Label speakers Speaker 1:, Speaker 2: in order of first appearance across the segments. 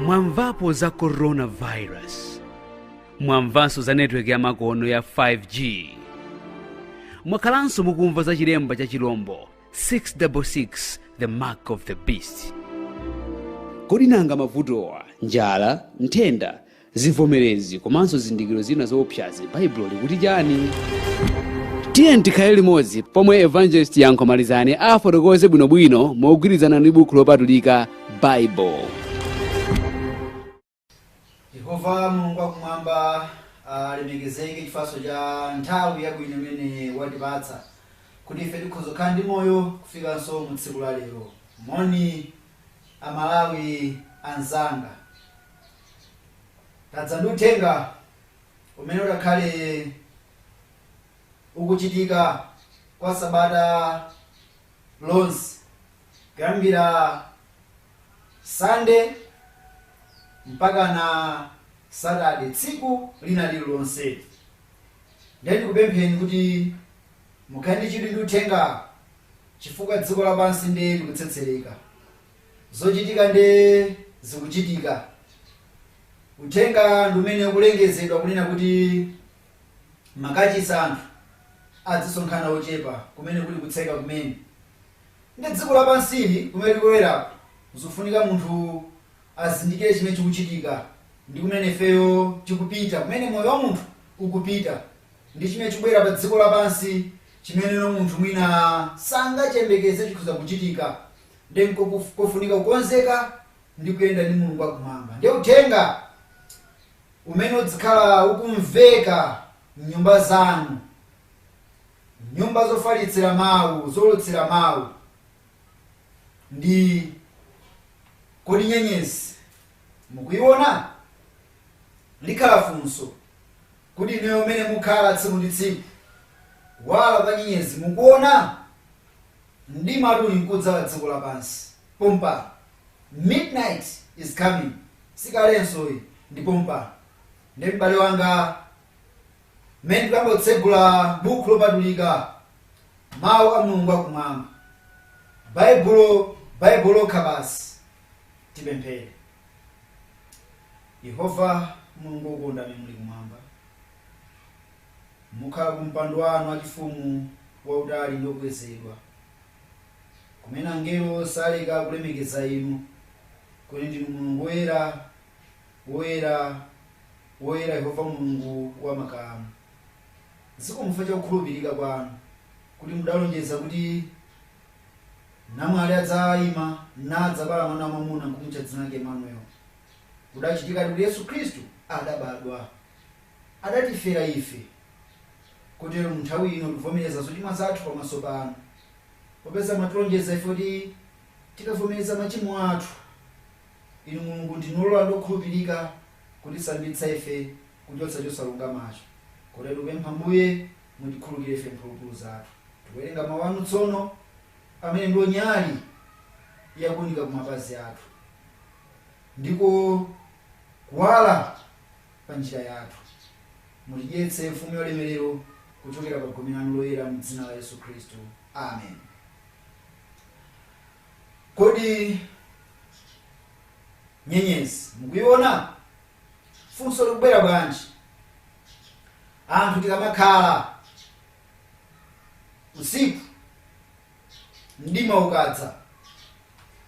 Speaker 1: mwamvapo za coronavirus mwamvanso za netiweki yamakono ya 5g mwakhalanso mukumva za chilemba cha chilombo 666 the mark of the beast kodi nanga mavutowa njala nthenda Zivomerezi komanso zindikiro zina zoopsazi, Baibulo likuti chani? Tiyeni tikhale limodzi pomwe Evangelist Yankho Malizani afotokoze bwinobwino mogwirizana ndi buku lopatulika Bible.
Speaker 2: yehova mulungu wakumwamba alemekezeke chifatso cha nthawi yabwino imene watipatsa kuti ife tikhoza kukhala ndi moyo kufikanso mu tsiku la lero moni amalawi anzanga tadza ndi uthenga umene udakhale ukuchitika kwa sabata lonse kuyambira sande mpakana satade tsiku lina lililonse ndiye ndikupempheni kuti mukhale ndi chidwi ndi uthenga chifukwa dziko lapansi ndiye likutsetsereka Zochitika nde zikuchitika. Uthenga ndi umene ukulengezedwa kunena kuti makachisi anthu adzisonkhana ochepa kumene kuli kutseka kumene. Ndi dziko lapansili kumene tikuloweraku zikufunika munthu azindikire chimene chikuchitika ndi kumene ifeyo tikupita, kumene moyo wa munthu ukupita ndi chimene chikubwera pa dziko lapansi chimene munthu mwina sangachiyembekeze chikhoza kuchitika. Ndiye nkofunika kukonzeka ndi kuyenda ndi Mulungu wa Kumwamba. Ndiye Uthenga umene udzikhala ukumveka m'nyumba zanu, nyumba zofalitsira Mau, zoulutsira Mau, ndi Kodi nyenyezi mukuiona? Likhala funso kuti inuyo umene mukhala tsiku ndi tsiku, kuwala kwa nyenyezi mukuona? Mdimatu uli nkudza pa dziko lapansi pompa. Midnight is coming, si kalenso iyi, ndi pompa. Ndiye m'bale wanga, mmene tikuyamba kutsegula Bukhu Lopatulika, Mawu a Mulungu Akumwamba, Baibulo, Baibulo lokha basi, tipemphere. Yehova Mulungu wokonda amene muli Kumwamba. mukhala ku mpando wanu wachifumu wautali ndi okwezedwa, kumene angelo saleka kulemekeza inu, kuti ndinu Mulungu woyera, woyera, woyera, Yehova Mulungu wa makamu. Zikomo chifukwa cha kukhulupirika kwanu, kuti mudalonjeza kuti namwali adzaima, nadzabala mwana wamwamuna, nkumutcha dzina lake Emmanuel. Kudachitikadi kuti Yesu Khristu adabadwa. adatifera ife, kotero, mu nthawi ino tivomereza zochimwa zathu pamaso panu, popeza mwatilonjeza ife kuti tikavomereza machimo athu, inu, Mulungu, ndinu olola ndi okhulupirika kutisambitsa ife kuchotsa chosalungamacho, kotero tikupempha, Ambuye, mutikhululukire ife mphulupulu zathu. Tikuwerenga mawu anu tsono, amene ndiwo nyali yakuunika kumapazi athu, ndiko kuwala. pa njira yathu. Mutidyetse Mfumu yaulemerero kuchokera pa gome lanu loyera mu dzina la Yesu Khristu. Amen. Kodi nyenyezi mukuiona? Funso likubwera bwanji? Anthu tikamakhala usiku mdima ukadza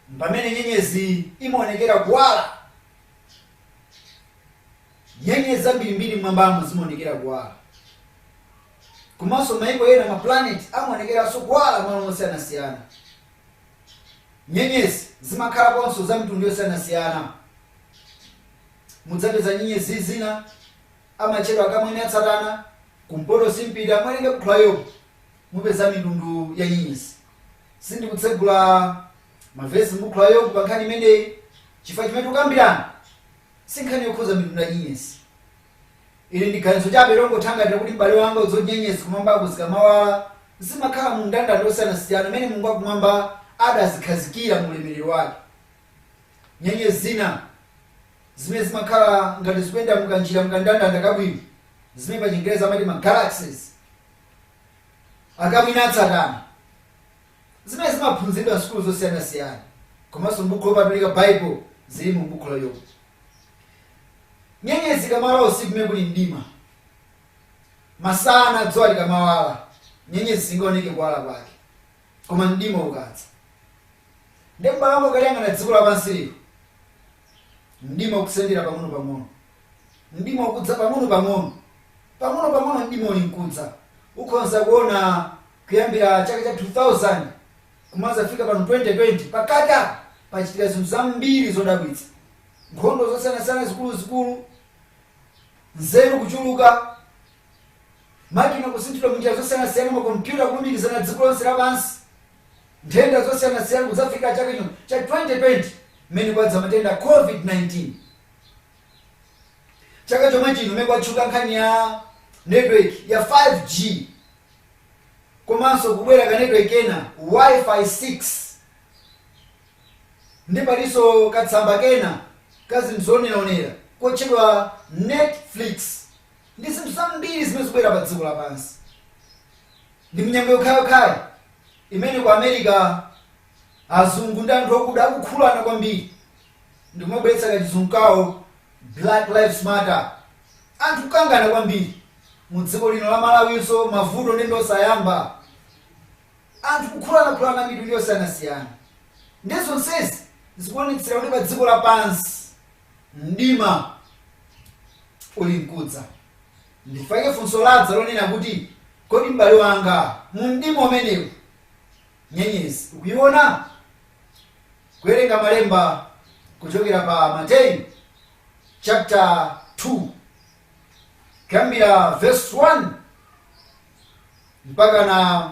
Speaker 2: mpamene nyenyezi imaonekera kuwala Nyenyezi zambirimbiri m'mwambamo zimaonekera kuwala. Komanso mayiko ena, mapulaneti, amaonekeranso kuwala malo osiyanasiyana. Nyenyezi zimakhalaponso za mitundu yosiyanasiyana. Mudzapeza nyenyezi zina amatchedwa akamwini atsatana, kumpoto simpita, muwerenge buku la Yobu mupeza mitundu ya nyenyezi. Sindikutsegula mavesi m'bukhu la Yobu pa nkhani imeneyi chifukwa chimene tikukambirana si nkhani yokhuza mitundu ya nyenyezi. Ili ndi ganizo chabe longothangatira kuti m'bale wanga udziwe kuti nyenyezi kumwambaku zikamawala zimakhala mu ndandanda osiyanasiyana umene Mulungu wakumwamba adazikhazikira mu ulemerero wake. Nyenyezi zina zimene zimakhala ngati zikuyenda mu kanjira mu kandandanda kabwino zimene pa chingerezi amati ma galaxies akamwini atsatana Zimene zimaphunziridwa m'sukulu zosiyanasiyana komanso m'buku lopatulika Bible zili mu buku la Yobu. Nyenyezi ikamawala usiku kumene kuli mdima, masana dzuwa likamawala, nyenyezi singaoneke kuwala kwake. Koma mdima ukadza, ndi m'bale wanga ukaliyang'ana dziko lapansi lino, mdima ukusendera pang'onopang'ono. Mdima ukudza pang'onopang'ono. Pang'onopang'ono mdima uli nkudza, ukhonza kuona Kuyambira chaka cha 2000 kumadzafika pano 2020, pakatipa pachitika zinthu zambiri zodabwitsa, nkhondo zosiyanasiyana zikuluzikulu, nzeru kuchuluka, makina kusinthidwa m'njira zosiyanasiyana, makompyuta kulumikizana dziko lonse lapansi, nthenda zosiyanasiyana, kudzafika chaka chino cha 2020 mmene kwadza matenda a COVID-19. Chaka chomwe chino mmene kwatchuka nkhani ya network ya 5G. komanso kubwera ka network kena wifi 6 ndi palinso katsamba kena ka zinthu zooneraonera kotchedwa netflix ndi zinthu zambiri zimene zikubwera pa dziko lapansi ndi munyengo yokhayokhayi imene ku america azungu ndi anthu okuda akukhulana kwambiri ndikumabweretsa kachizungu kawo black lives matter Anthu kukangana kwambiri mu dziko lino la Malawinso mavuto nde ndiosayamba. Anthu kukhulanakhulana mitundu yosiyanasiyana ndi zonsezi zikuonetsera kuti pa dziko lapansi mdima uli mkudza. Ndifake funso ladza lonena kuti kodi m'bale wanga mu mdima umenewu nyenyezi ukuiona? Kuwerenga malemba kuchokera pa Mateyu chapter 2 kuyambira verse 1 mpakana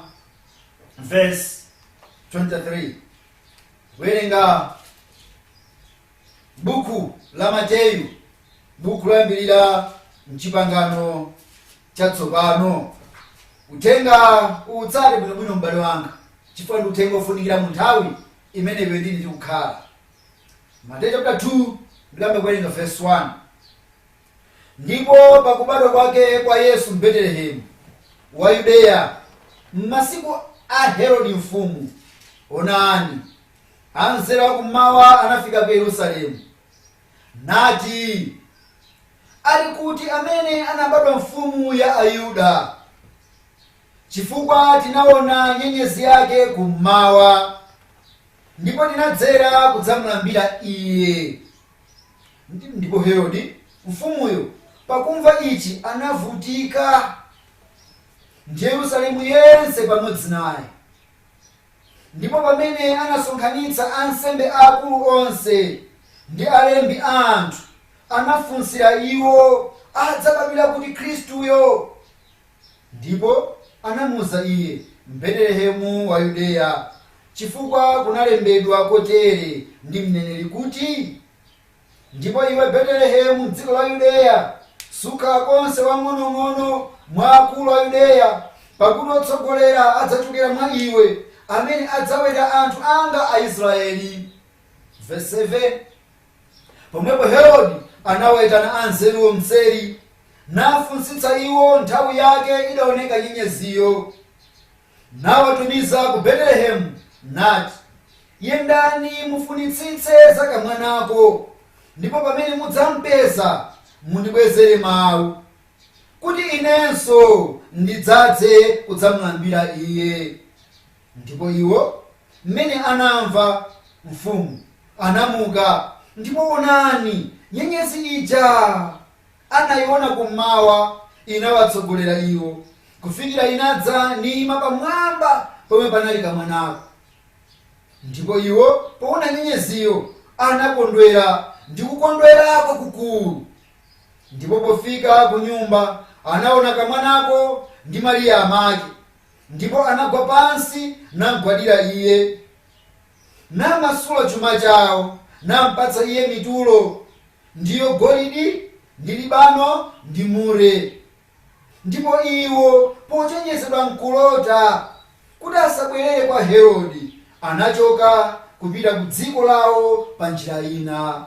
Speaker 2: verse 23 kuwerenga buku la mateyu buku loyambirira mchipangano chatsopano uthenga utsate bwinobwino m'bale wanga chifukwa ndi uthenga ofunikira mu nthawi imene iwe ndine tikukhala Mateyu chapter 2 ndiyambe kuwerenga verse 1 ndipo pakubadwa kwake kwa yesu mbetelehemu wa yudeya m'masiku a herodi mfumu onani anzeru akummawa anafika ku yerusalemu nati ali kuti amene anabadwa mfumu ya ayuda Chifukwa tinaona nyenyezi yake kummawa, ndipo tinadzera kudzamlambira iye. Ndipo Herodi, mfumuyo, pakumva ichi anavutika, ndi Yerusalemu yense pamodzi naye. Ndipo pamene anasonkhanitsa ansembe aakulu onse ndi alembi a anthu, anafunsira iwo adzabadwira kuti Khristuyo. Ndipo anamuuza iye, M'Betelehemu wa Yudeya, chifukwa kunalembedwa kotere ndi mneneri kuti, Ndipo iwe Betelehemu m'dziko la Yudeya, sukhala konse wang'onong'ono mwa akulu a Yudeya, pakuti otsogolera adzachokera mwa iwe, amene adzaweta anthu anga Aisraeli. Vesi 7. Pomwepo Herode anawaitana anzeruwo m'tseri, nafunsitsa iwo nthawi yake idaoneka nyenyeziyo. Nawatumiza ku Betelehemu, nati, Yendani mufunitsitse za kamwanako, ndipo pamene mudzampeza, mundibwezere mau, kuti inenso ndidzadze kudzamlambira Iye. Ndipo iwo, m'mene anamva mfumu, anamuka, ndipo onani, nyenyezi ija anaiona kum'mawa inawatsogolera iwo, kufikira inadza niima pamwamba pomwe panali kamwanako. Ndipo iwo, poona nyenyeziyo, anakondwera ndi kukondwera kwakukuru. Ndipo pofika kunyumba, anaona kamwanako ndi Mariya amake. Ndipo anagwa pansi namgwadira iye, namasula cuma cao, nampatsa iye mitulo, ndiyo golidi, ndi libano, ndi mure. Ndipo iwo, pocenjezedwa m'kulota kuti asabwerere kwa Herode, anacoka kupita ku dziko lao pa njira ina.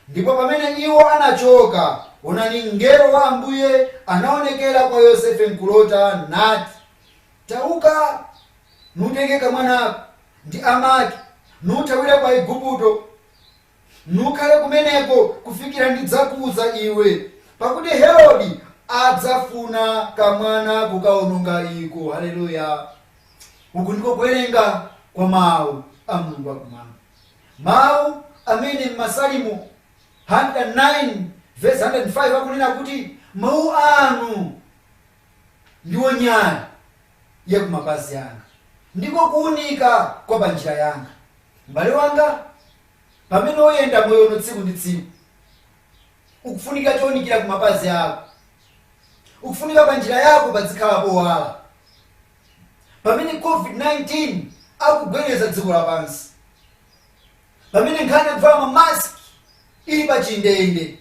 Speaker 2: Ndipo pamene iwo anachoka, onani, mngelo wa Ambuye anaonekera kwa Yosefe m'kulota, nati, Tauka, nutenge kamwanako ndi amake, nuthawire ku Aigupto, nukhale kumeneko kufikira ndidzakuuza iwe, pakuti Herodi adzafuna kamwana kukaononga iko. Haleluya! Uku ndiko kuwerenga kwa Mawu a Mulungu wakumwamba. Mawu amene m'Masalimo 109 vesi 105 akunena kuti, Mawu anu ndiwo nyali ya kumapazi anga, ndiko kuunika kwa panjira yanga. M'bale wanga, pamene uyenda moyo uno tsiku ndi tsiku, ukufunika chounikira kumapazi ako. Ukufunika panjira yako pazikhala powala. pamene COVID-19 akugwedeza dziko lapansi, pamene nkhani ya kuvala ma mask ili pa chindende,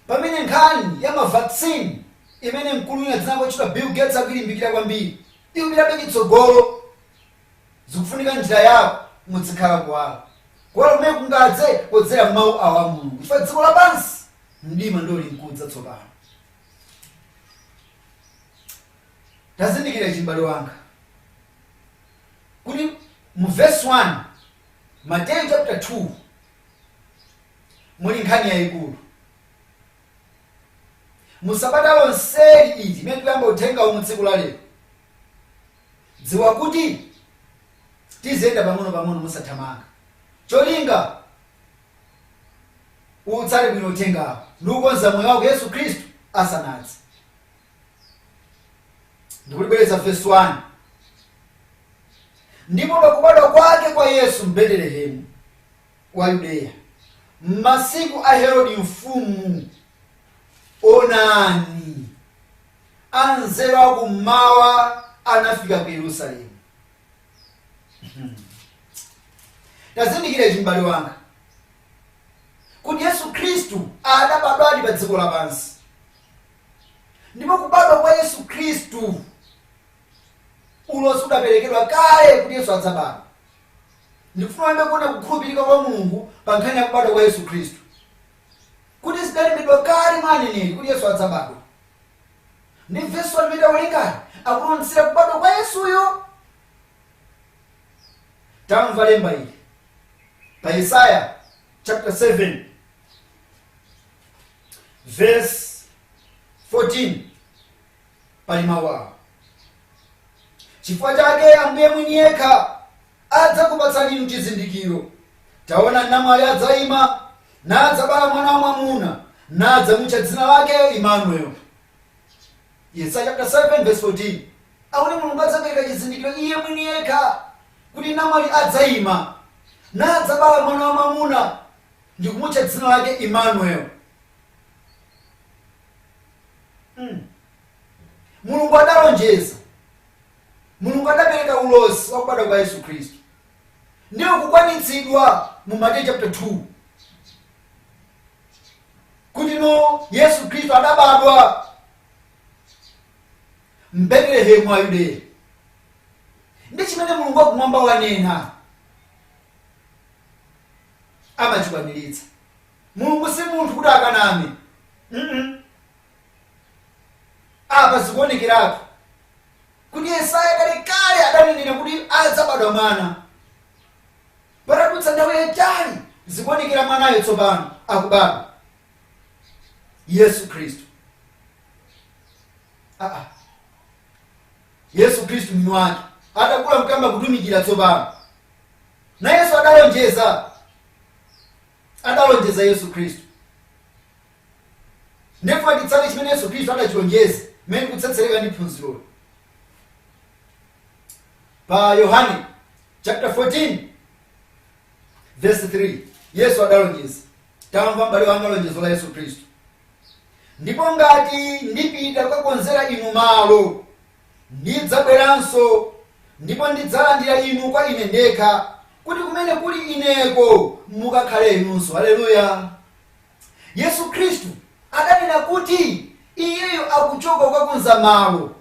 Speaker 2: pamene nkhani ya ma vaccine imene mkulu wina dzina lake lotchedwa Bill Gates akuilimbikira kwambiri ikupitabe chitsogolo, zikufunika njira yako muzikhala kuwala. Kuwala kumene kungadze podzera mawu awa a Mulungu, chifukwa dziko lapansi mdima ndiwo ulinkudza tsopano. tazindikira ichi m'bale wanga kuti mu verse 1 mateyu chapter 2 muli nkhani yayikulu mu sabata lonseli iti imene tikuyamba uthengawu mu tsiku la lero dziwa kuti tiziyenda pang'ono pang'ono musathamanga cholinga utsate bwino uthengawo ndi kukonza moyo wako yesu khristu asanadze ndikulibwereza vesi 1 ndipo pakubadwa kwake kwa yesu mbetelehemu wa yudeya m'masiku a herodi mfumu onani anzeru akummawa anafika ku yerusalemu Hmm. tazindikira ichi m'bale wanga kuti yesu khristu adabadwadi pa dziko lapansi ndipo kubadwa kwa yesu khristu ulosi udaperekedwa kale kuti yesu adzabadwa ndikufuna iwe uone kukhulupirika kwa mulungu pa nkhani ya kubadwa kwa yesu khristu kuti zidalembedwa kale mwa aneneri kuti yesu adzabadwa ndi vesi 1 limene tawerengali likutionetsera kubadwa kwa Yesuyo. Tamva lemba ili pa Yesaya chapter 7 verse 14 pali mawu awa chifukwa chake ambuye mwini yekha adzakupatsani inu chizindikiro, Taona, namwali adzaima, nadzabala mwana wamwamuna, nadzamutcha dzina lake Imanuel. Yesaya chapter 7 verse 14 akuti Mulungu adzapereka chizindikiro Iye mwini yekha, kuti namwali adzaima, nadzabala mwana wamwamuna, ndikumutcha dzina lake Imanuel. Hmm. Mulungu adalonjeza Mulungu adapereka ulosi wa kubadwa kwa Yesu Khristu ndi ukukwaniritsidwa mu Mateyu chapter 2 kuti no Yesu Khristu adabadwa m'Betelehemu wa Yudeya ndi chimene Mulungu wakumwamba wanena amachikwaniritsa. Mulungu si munthu kuti akaname. Mm -mm. Apa zikuonekeratu kuti Yesaya kalekale adanenera kuti adzabadwa mwana. Patadutsa nthawi yaitali, zikuonekera mwanayo tsopano akubadwa, Yesu Khristu. Aa, Yesu Khristu mwini wake atakula n'kuyamba kutumikira tsopano, nayenso adalonjeza, adalonjeza Yesu Khristu Ndiye ndifuna titsate chimene Yesu Khristu adachilonjeza, mmene tikutsetsereka ndi phunziroli pa Yohane chapter 14 verse 3 Yesu adalonjeza, tamva m'bale wanga lonjezo la Yesu Khristu, ndipo ngati ndipita kukakonzera inu malo, ndidzabweranso ndipo ndidzalandira inu kwa ine ndekha, kuti kumene kuli ineko mukakhale inunso. Haleluya! Yesu Khristu adanena kuti Iyeyo akuchoka kukakonza malo.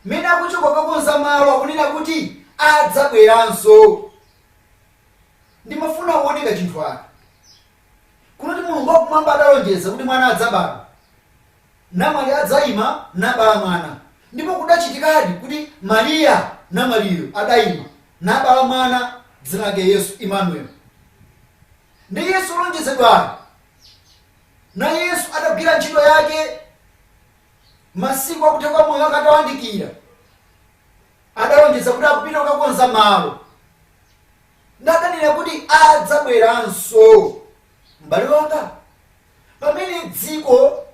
Speaker 2: Mmene akuchoka kukakonza malo akunena kuti adzabweranso. Ndimafuna uwone kachinthu aka. Kunena kuti Mulungu wakumwamba adalonjeza kuti mwana adzabadwa. Namwali adzaima nabala mwana. Ndipo kudachitikadi kuti Maria namwaliyo adaima nabala mwana dzina lake Yesu, Emmanuel. Ndi Yesu olonjezedwayo, naye Yesu adagwira ntchito yake masiku akutha kwa moyo wake atawandikira, adalonjeza kuti akupita kukakonza malo, nadanena kuti adzabweranso. M'bale wanga, pamene dziko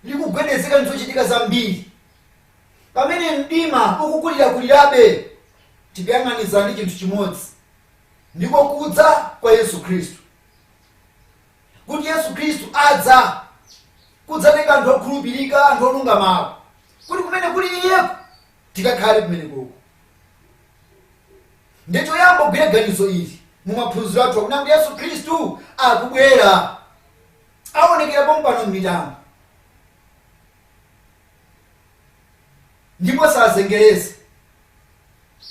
Speaker 2: likugwedezeka ndizochitika zambiri, pamene mdima ukukulirakulirabe, tikuyang'anizana ndi chinthu chimodzi. ndiko kudza kwa Yesu Khristu, kuti Yesu Khristu adza kudzatenga anthu okhulupirika, anthu olungamawo, kuti kumene kuli Iyeko tikakhale kumenekoko. Ndiye choyamba ugwire ganizo ili mu maphunziro athu akunena kuti Yesu Khristu akubwera, aonekera pompano m'mitambo. ndipo sazengereza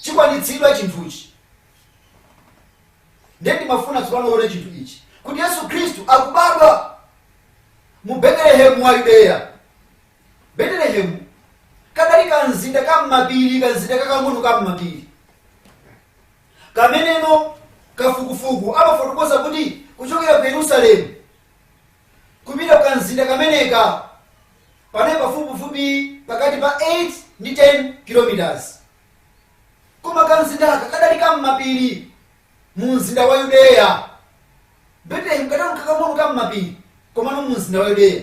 Speaker 2: chikwanitsidwa chinthuchi ndiye ndimafuna tsopano uone chinthu ichi kuti yesu khristu akubadwa mu betelehemu wa yudeya betelehemu kadali kamzinda ka m'mapiri kamzinda kakang'ono ka m'mapiri kameneno kafukufuku amafotokoza kuti kuchokera ku yerusalemu kupita ku kamzinda kameneka panali pafupifupi pakati pa 8 ndi 10 km. Koma kamzindaka kadali ka m'mapiri mu mzinda wa Yudeya. Betelehemu kadali kakang'ono ka m'mapiri komano mu mzinda wa Yudeya.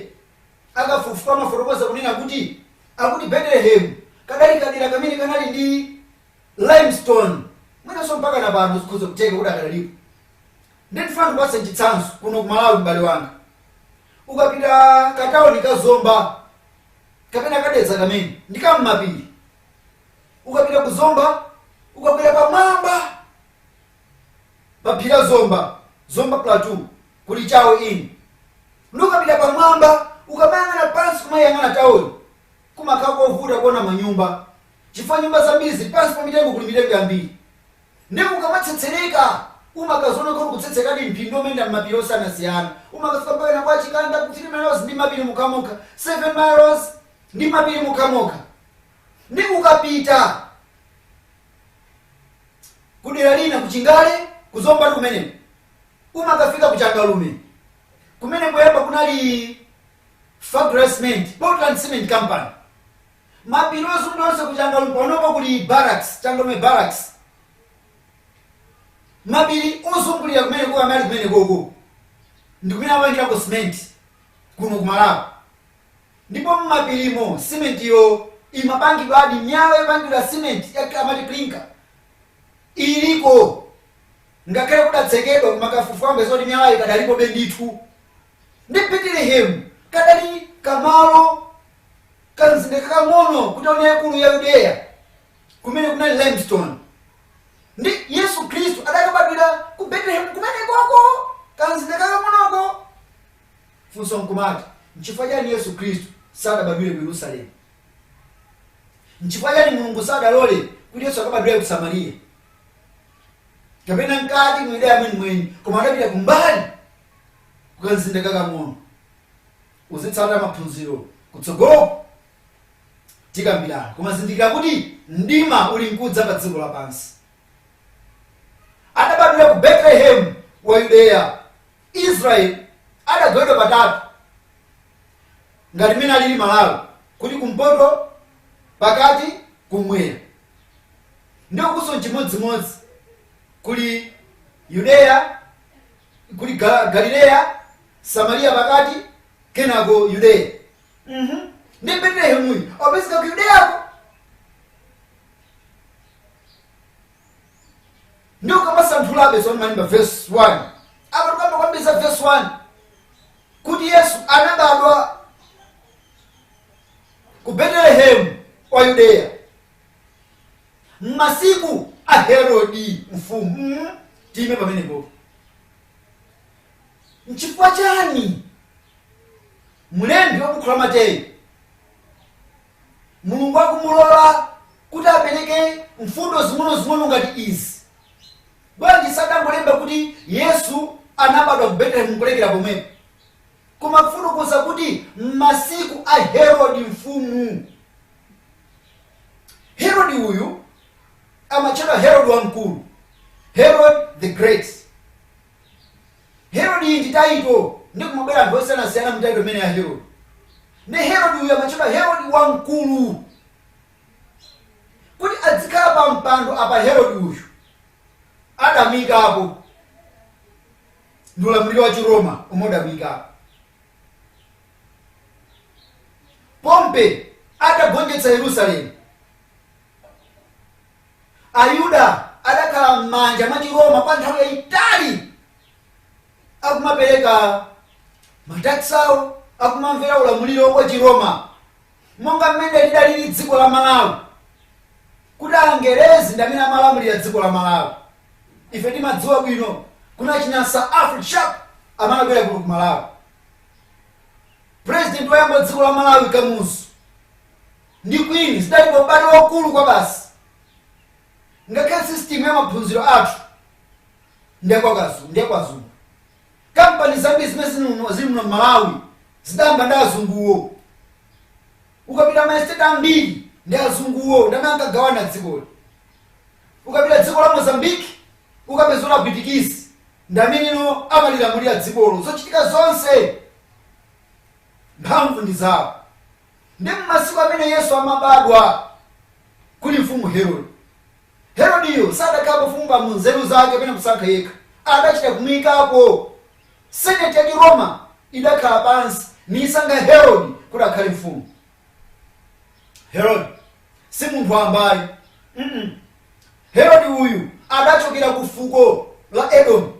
Speaker 2: Akafukufuku amafotokoza kunena kuti akuti Betelehemu kadali kadera kamene kanali ndi limestone mwinanso mpaka na pano zikhoza kutheka kuti akadalipo. Ndikufuna ndikupatse chitsanzo kuno ku Malawi m'bale wanga. Ukapita ka town ka Zomba kapena ka Dedza kamene ndi ka m'mapiri. Ukapita ku Zomba ukakwera pamwamba pa phiri la Zomba, Zomba Plateau kuli Chawe Inn. Ndi ukapita pamwamba ukamayang'ana pansi kumayang'ana town kumakhala kovuta kuona manyumba chifukwa nyumba zambiri zili pansi pa mitengo kuli mitengo yambiri. Ndiye ukamatsetsereka umakaziona kuti ukutsetserekadi m'phiri umayenda m'mapiri osiyanasiyana. Umakafika mpakana kwa Chikanda ku 3 miles ndi m'mapiri okhaokha, 7 miles ndi m'mapiri okhaokha. Ndiye ukapita ku dera lina ku Chingale ku Zombatu kumeneko umakafika ku Changalume kumene poyamba kunali factory ya cement, Portland Cement Company. mapiri ozungulira onse ku changalume panopo kuli barracks changalume barracks mapiri ozungulira kumeneko amali kumenekoko ndi kumene amapangirako cement kuno ku malawi ndipo mmapirimo simentiyo imapangidwadi miyala yopangidwa simenti ya- amati clinker iliko ngakhale kudatsekedwa koma kafukufuku mpeza zoti miyalayo ikadalipobe ndithu ndi betelehemu kadali kamalo kamzinda kakang'ono ku tauni yaikulu ya yudeya kumene kunali limestone ndi yesu khristu adakabadwira ku betelehemu kumenekoko kamzinda kakang'onoko funso nkumati nchifukwa chani yesu khristu sadabadwire ku yerusalemu nchifukwa chani mulungu sadalole kuti yesu akabadwire ku samariya kapena mkati mu yudeya mwenimweni koma adapita kumbali ku kamzinda kakang'ono. Uzitsata maphunziro kutsogoloku tikambirana. Koma zindikira kuti mdima uli nkudza pa dziko lapansi. Adabadwira ku Betelehemu wa Yudeya. Israeli adagawidwa patatu ngati mmene alili Malawi kuti kumpoto, pakati, kummwera. Ndiye ukunso nchimodzimodzi kuli Yudeya. kuli Ga- galileya samariya pakati kenako yudeya Mhm. ndi betelehemu opezeka ku yudeyako ndi ukamasanthulabe zomwe zili pa vesi 1 apa tukamba kwambiri za vesi 1 kuti yesu anabadwa ku betelehemu wa yudeya m'masiku a Herodi mfumu. mm Tiime pamenepo. Nchifukwa chani mlembi wa bukhu la Mateyu Mulungu akumulola kuti apereke mfundo zing'onozing'ono ngati izi? Bwanji sadangolemba kuti Yesu anabadwa ku Betelehemu nkulekera pomwepo? kumafotokoza kuti m'masiku a Herodi mfumu. Herodi uyu amatchedwa Herodi Wamkulu, Herod the Great. Herodi iyi ndi taito ndi kumabwera anthu osiyanasiyana mu taito imene ya Herodi. Nde Herodi uyu amatchedwa Herodi Wamkulu kuti adzikhala pa mpando apa Herodi uyu adamuikapo ndi ulamuliro wa Chiroma umene udamuika. Pompe atagonjetsa Yerusalemu, Ayuda adakhala m'manja mwa Chiroma kwa nthawi yayitali akumapereka matax awo akumamvera ulamuliro wa Chiroma. monga mmene lidalili dziko la Malawi kuti angerezi ndi amene amalamulira dziko la Malawi ife timadziwa bwino kuti achina Sir Alfred Sharp amabwera kuno ku Malawi president woyamba wa dziko la Malawi Kamuzu ndi Queen zidali pa ubale waukulu kwabasi ngakhale system ya maphunziro athu ndi ya kwa azungu Kampani zambiri zimene zili muno mmalawi zidayamba ndi azunguwo. Ukapita ma estate ambiri ndi azunguwo ndi amene ankagawana dzikoli. Ukapita dziko la Mozambique ukapeza kuti apwitikizi ndi amenewo amalilamulira dzikolo zochitika zonse mphamvu ndi zawo. Ndi mmasiku amene Yesu amabadwa kuli mfumu Herodi. Herodiyo sadakhale ufumu pa nzeru zake pena kusankha yekha, adachita kumuikapo. Senate ya Chiroma idakhala pansi niisankha Herodi kuti akhale mfumu. Herodi si munthu wamba ayi, Herodi uyu adachokera ku fuko la Edomu.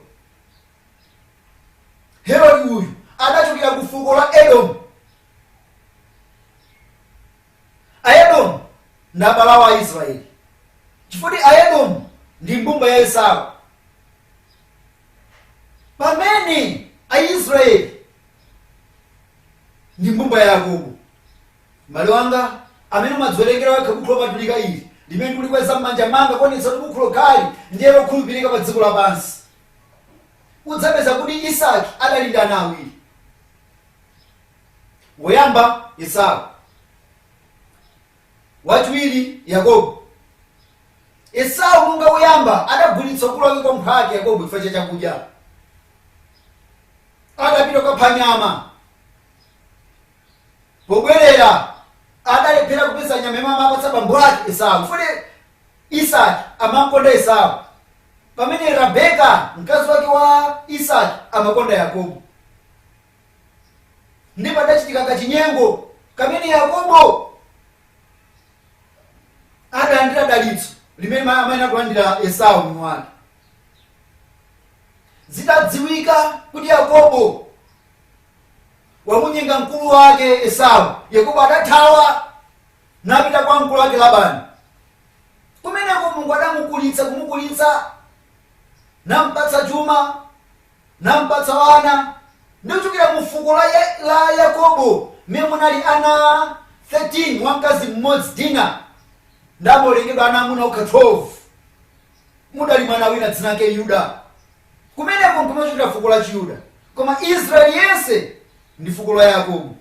Speaker 2: Herodi uyu adachokera ku fuko la Edomu. Aedomu ndi abale awo Aisrayeli, chifukwa Aedomu ndi mbumba ya Esau. Pamene Aisrayeli ndi mbumba ya Yakobo. M'bale wanga, amene umadziwerengera wekha Bukhu Lopatulika ili limene ndikulikweza m'manja manga kuonetsa kuti Bukhu lokhali ndiye lokhulupirika pa dziko lapansi, udzapeza kuti Isaki adali ndi ana awiri. woyamba esau wachiwiri yakobo esau monga woyamba adagulitsa ukulu wake kwa mphwake yakobo chifukwa cha chakudya adapita kukapha nyama pobwerera adalephera kupeza nyama imene amapatsa bambo ake esau chifukwa isaki amakonda esau pamene rabeka mkazi wake wa isaki amakonda yakobo ndipo padachitika kachinyengo kamene Yakobo adalandira dalitso limene ma- amayenera kulandira Esau mwini wake. Zitadziwika kuti Yakobo wamunyenga mkulu wake Esau, Yakobo adathawa napita kwa mkulu wake Labani. Kumeneko Mulungu adamukulitsa kumukulitsa nampatsa chuma nampatsa ana, Ndi kuchokera mu fuko la Yakobo, mmene munali ana 13 wa mkazi mmodzi, Dina, nde amawerengedwa ana amuna okha 12. Mudali mwana wina dzina lake Yuda. Kumeneko nkumene kumachokera fuko la Chiyuda. Koma Israeli yense ndi fuko la Yakobo.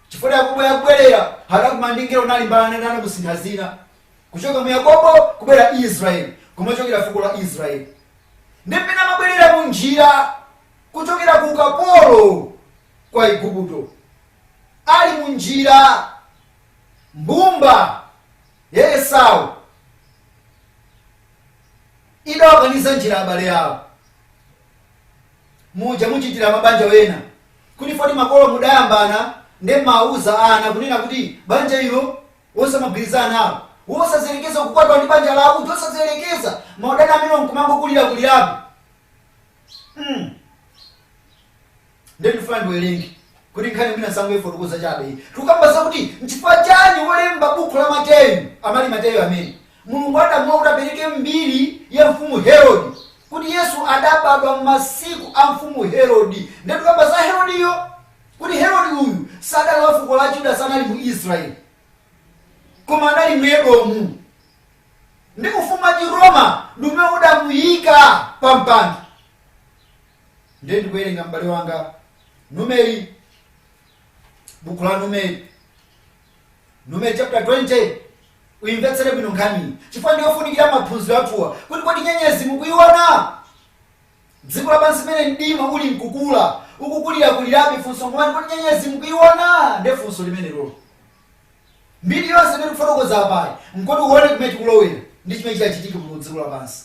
Speaker 2: Chifukwa Yakobo akubwerera, adakumana ndi mngelo nalimbana naye namusintha dzina. Kuchoka mu Yakobo kubwera Israeli, kumachokera fuko la Israeli. nde pamene amabwerera mu njira kuchokera ku ukapolo ku Aigupto. Ali mu njira, mbumba ya Esau idawakaniza njira abale awo. Muja muchitira mabanja wena kuti foti makolo mudayambana nde mumawauza ana kunena kuti banja ilo osamagwirizana nawo, osayerekeza kukwatiwa ndi banja lawo, uja osayerekeza maudani amenewo nkumangokulirakulirabe mm nde ndifuna ndiwerenge kuti nkhani mwina ndisangoifotokoza chabe iyi tikukamba zakuti nchifukwa chani wolemba bukhu la mateyu amali mateyu amene mulungu adamlola kuti apereke mbiri ya mfumu herodi kuti yesu adabadwa m'masiku a mfumu herodi nde tikukamba za herodiyo kuti Herodi uyu sadali wa fuko la Yuda, sanali mu Israeli, koma anali mu Edomu, ndi ufumu wa Chiroma ndi umene udamuyika pa mpando. Ndiye ndikuwerenga m'bale wanga Numeri, buku la Numeri, Numeri chapter 20 uyimvetsere bwino nkhaniyi chifukwa ndiyofunikira maphunziro athuwa kuti kodi nyenyezi mukuyiona Dziko lapansi mmene mdima uli nkukula, ukukulirakulirabe, funso nkumati, kodi nyenyezi mukuiwona? Ndiye funso limeneloli. Mbiri yonse imene tikufotokoza apayi, nkoti uwone kumene tikulowera ndi chimene chitachitike mu dziko lapansi.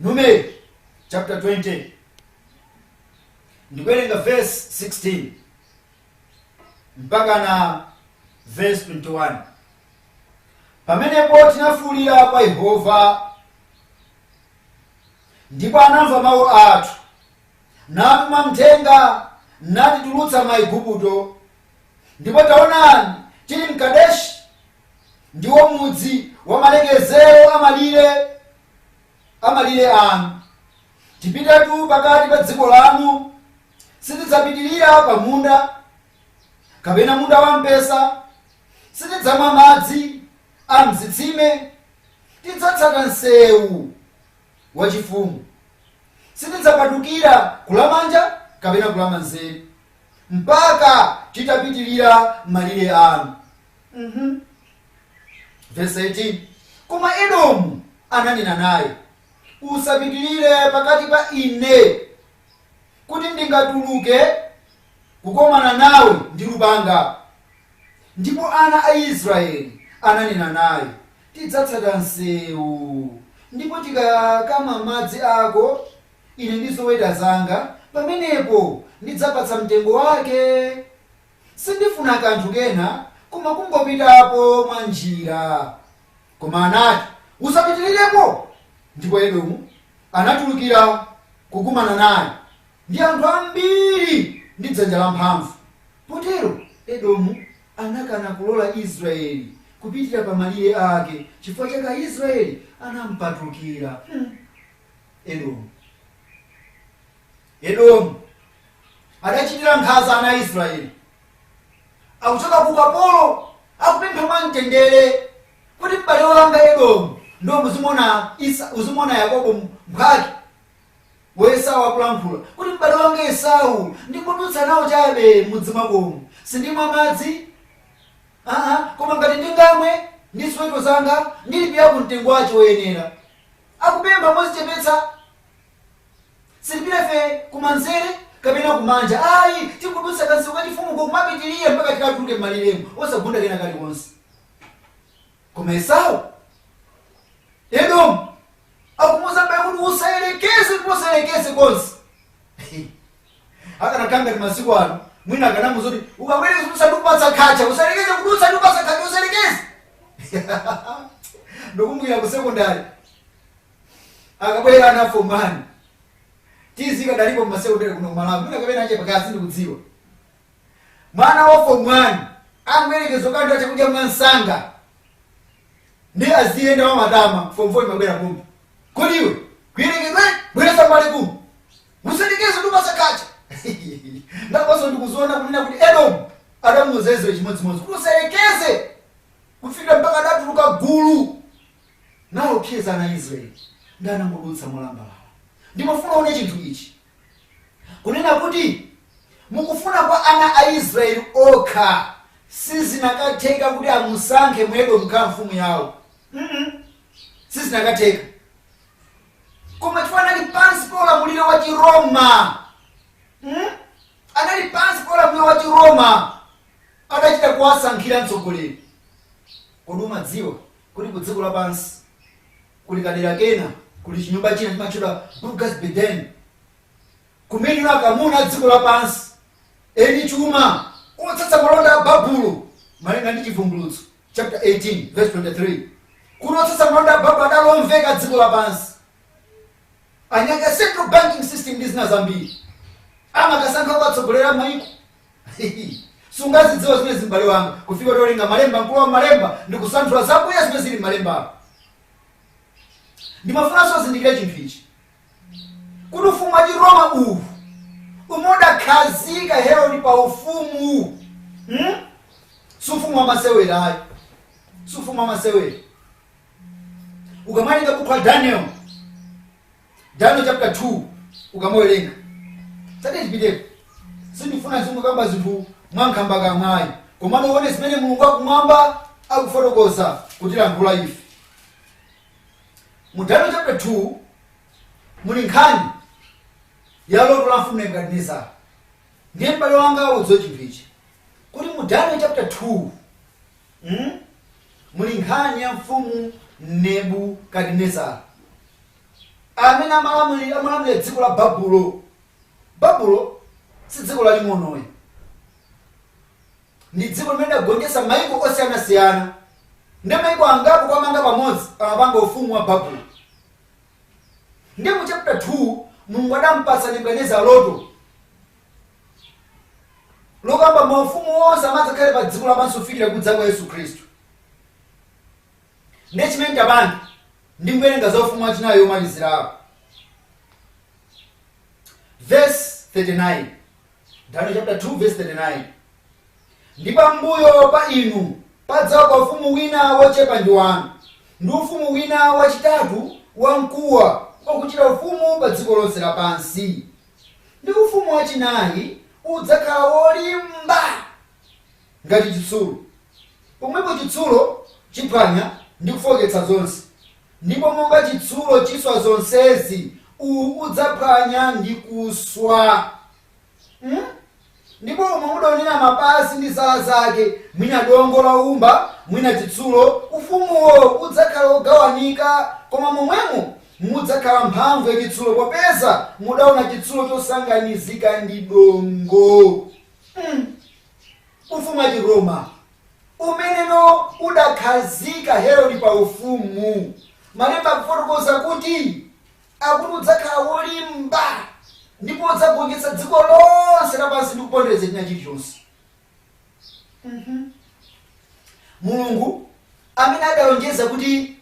Speaker 2: Numeri chapter 20 ndikuwerenga verse 16 mpakana verse 21. Pamenepo tinafuulira kwa Yehova, ndipo anamva mawu athu, natuma mthenga, natitulutsa m'Aigupto. Ndipo taonani, tili m'Kadeshi, ndiwo mudzi wa malekezero a malire a malire anu. Tipitatu pakati pa dziko lanu, sitidzapitirira pamunda, kapena munda wampesa, Sitidzamwa madzi a m'zitsime. Tidzatsata msewu wachifumu. Sitidzapatukira kulamanja kapena kulamanzere mpaka titapitirira malire anu. Uhuh. Vesi 18, Koma Edomu ananena naye, Usapitirire pakati pa ine, kuti ndingatuluke. kukomana nawe ndi lupanga. Ndipo ana a Israyeli ananena naye, Tidzatsata mseu, ndipo tikakamwa madzi ako, ine ndi zoweta zanga, pamenepo ndidzapatsa mtengo wake, sindifuna kanthu kena koma kungopitapo mwa njira. Koma anati, Usapitirirepo. Ndipo Edomu anatulukira kukumana naye. ndi anthu ambiri ndi dzanja lamphamvu. Potero Edomu anakana kulola Israyeli kupitira pa malire ake, chifukwa chake Israyeli anampatukira. Hmm! Edomu. Edomu adachitira nkhanza ana a Israyeli. Akuchoka ku ukapolo, akupempha mwamtendere kuti m'bale wanga Edomu, ndo muzimuona Esau, uzimuona Yakobo mphwake. wa Esau akulankhula kuti, M'bale wanga Esau, ndingodutsa nawo chabe m'mudzi mwakomu. Sindimwa madzi, aa, koma ngati ndingamwe ndi ziweto zanga, ndilipirako mtengo wache woyenera. Akupempha mozichepetsa. Sitipita ife kumanzere kapena kumanja ayi, tingodutsa kansewu kachifumu uko kumapitirira mpaka tikatuluke m'maliremu, osagunda kena kalikonse. koma esau edomu akumuuza m'bale kuti usayerekeze ndipo usayerekeze konse akanakhala ngati masiku ano mwina akanamuuza kuti ukayerekeza kudutsa ndikupatsa khacha usayerekeze kudutsa ndikupatsa khacha usayerekeze ndikumbukira ku sekondari akabwera ana a fomu wani tizi ikadalipo mmasekondari kuno kumalawi mwina kapena yachepa kaya sindikudziwa mwana wa form 1 angoyerekeza kulandira chakudya mwansanga ndiye aziyenda mwa matama form 4 imabwera kumbi kodi iwe kuyerekedwe bweresa mbali kumbi usayerekeze ndikupatsa khacha ndakonso ndikuziona kunena kuti edomu adamuuzanso chimodzimodzi kuti usayerekeze kufika mpaka adatuluka gulu nawo phiyezana israeli ndinangodutsa molambalala ndimafuna uone chinthu ichi Kunena kuti mukufuna kwa ana a Israeli okha sizinakatheka kuti amusankhe mu Edomu kukhala mfumu yawo. Mm sizinakatheka. Koma chifukwa anali pansi pa ulamuliro wa Chiroma. Mm? Anali pansi pa ulamuliro wa Chiroma. Adachita kuwasankhira mtsogoleri. Kodi umadziwa kuti ku dziko lapansi Kuli kadera kena, kuli chinyumba china chimatchedwa Burgas Beden, kumeneno akamuna a dziko lapansi, eni chuma, otsatsa malonda a Babulo, malinga ndi Chivumbulutso chaputala 18 vesi 23, kuti otsatsa malonda a Babulo adali omveka dziko lapansi, anyake a central banking system ndi zina zambiri, amakasankha owatsogolera a maiko. sungazidziwa zimenezi m'bale wanga kufika polinga malemba mkulu wa malemba ndi kusanthula zakuya zimene zili m'malemba ndimafunanso uzindikire chinthu ichi kuti ufumu wa chiroma uwu umene udakhazika herodi pa ufumu hmm? si ufumu wa masewera ayi si ufumu wa masewera ukamaliza bukhu la daniel Daniel chapter 2 ukamawerenga tate 30 38 koma sindifuna ndizingokamba zinthu mwankhambakamwa ayi komano uone zimene mulungu wakumwamba akufotokoza kutilankhula ife mu daniel chapter 2 muli nkhani ya loto la mfumu nebukadinezara ndiye m'bale wanga udziwe chinthu ichi kuti mu daniel chapter 2 Umu muli nkhani ya Mfumu Nebukadinezara amene amalamulira amalamulira dziko la Babulo. Babulo si dziko laling'ono ayi, ndi dziko limene lidagonjetsa maiko osiyanasiyana ndi maiko angapo kuwamanga pamodzi amapanga ufumu wa Babulo. Ndiye mu chapter 2 Mulungu adampatsa Nebukadinezara loto lokamba maufumu onse amene adzakhale pa dziko lapansi kufikira kudza kwa yesu khristu ndiye chimene tipange ndi kuwerenga za ufumu wachinayi womalizirawo verse 39 daniel chapter 2 verse 39 ndi pambuyo pa inu padzauka ufumu wina wochepa ndi wanu ndi ufumu wina wachitatu wamkuwa wakuchita ufumu pa dziko lonse lapansi Ndi ufumu wachinayi udzakhala wolimba ngati chitsulo. Pomwepo chitsulo chiphwanya ndi kufooketsa zonse, ndipo monga chitsulo chiswa zonsezi, uwu udzaphwanya ndi kuswa. Hmm? Ndipo umo mudaonera mapazi ndi zala zake, mwina dongo la woumba, mwina chitsulo, ufumuwo udzakhala wogawanika, koma momwemo mudzakhala mphamvu ya chitsulo, popeza mudaona chitsulo chosanganizika ndi dongo. Hmm. Ufumu wa Chiroma umeneno udakhazika Herodi pa ufumu, malemba akufotokoza kuti Akuti udzakhala wolimba ndipo udzagonjetsa dziko lonse lapansi ndi kupondereza china chilichonse. Mhm. Mulungu amene adalonjeza kuti